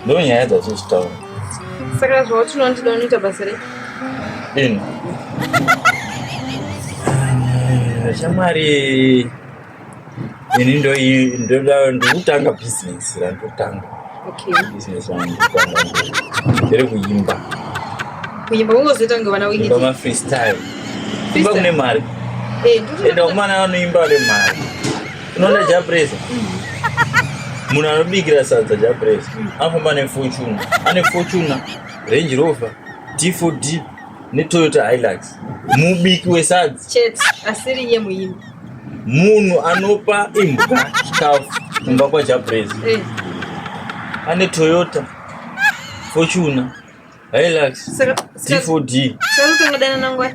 Ndo nyaya dzatiri kutaura. Saka zvauti unondida unoita basa rei? Ino. Shamwari ini ndo ndoda ndokutanga business randotanga. Okay. Business yangu ndere kuimba. Kuimba ungozoita ngavana wiki. Kuimba ma freestyle. Kuimba kune mari. Eh, ndoda. Enda umana anoimba le mari. unoona japresa munhu anobikira sadza japresa anofamba ane fortuna ane fortuna range rover d4d netoyota hilux mubiki wesadza chete asiri iye muimbi munhu anopa imbwa chikafu kumba kwajapresa Eh, ane toyota fortuna hilux saka- saka- d4d saka unotongodana nangwai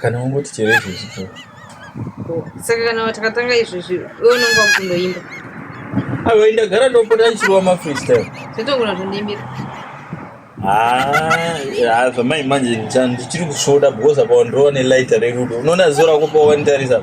kana ungoti chero izvezvi ko saka kana takatanga izvezvi iwe unenge wakutoimba aiwa ndagara ndopota ndichirova mafreestyle zvatongona zvondiimbira haa zvamai manje ndichiri kusvoda because apa wandirova nelighter rerudo unoona zuva rako pawanditarisa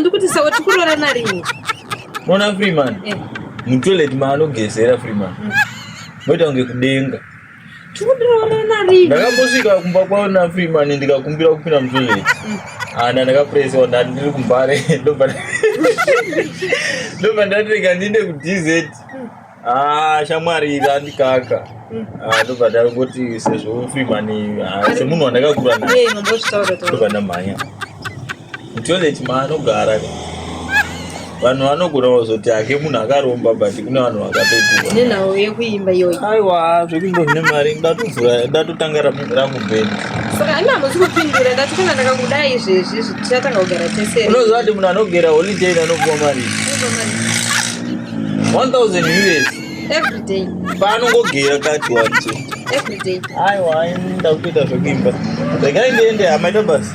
ndikuti sawa tikurorana rini mona freeman eh. mutoilet maanogezera freeman mm. moita kunge kudenga ndakambosvika kumba kwavo nafreeman ndikakumbira kupinda mutoilet mm. ana ndakapuresewa ndati ndiri kumbare ndobva ndati rega ndiende kudz mm. Ah, shamwari iri andikaka ah, ndobva ndangoti sezvo freeman ah, semunhu wandakakura naye ndobva ndamhanya mutoilet maanogara vanhu vanogona kuzoti hake munhu akaromba but kune vanhu vakatoinenawo yekuimba iyoyi aiwa zvekuimba zvine mari ndatovhura ndatotanga rangu bhendi saka ani hamusi kupindura ndati kana ndakakuda izvezvi zvichatanga kugara tese unoziva kuti munhu anogera holiday anopuwa mari 1000 us every day paanongogera kati wacho every day aiwa ndakuita zvekuimba regai ndiende hamaita basi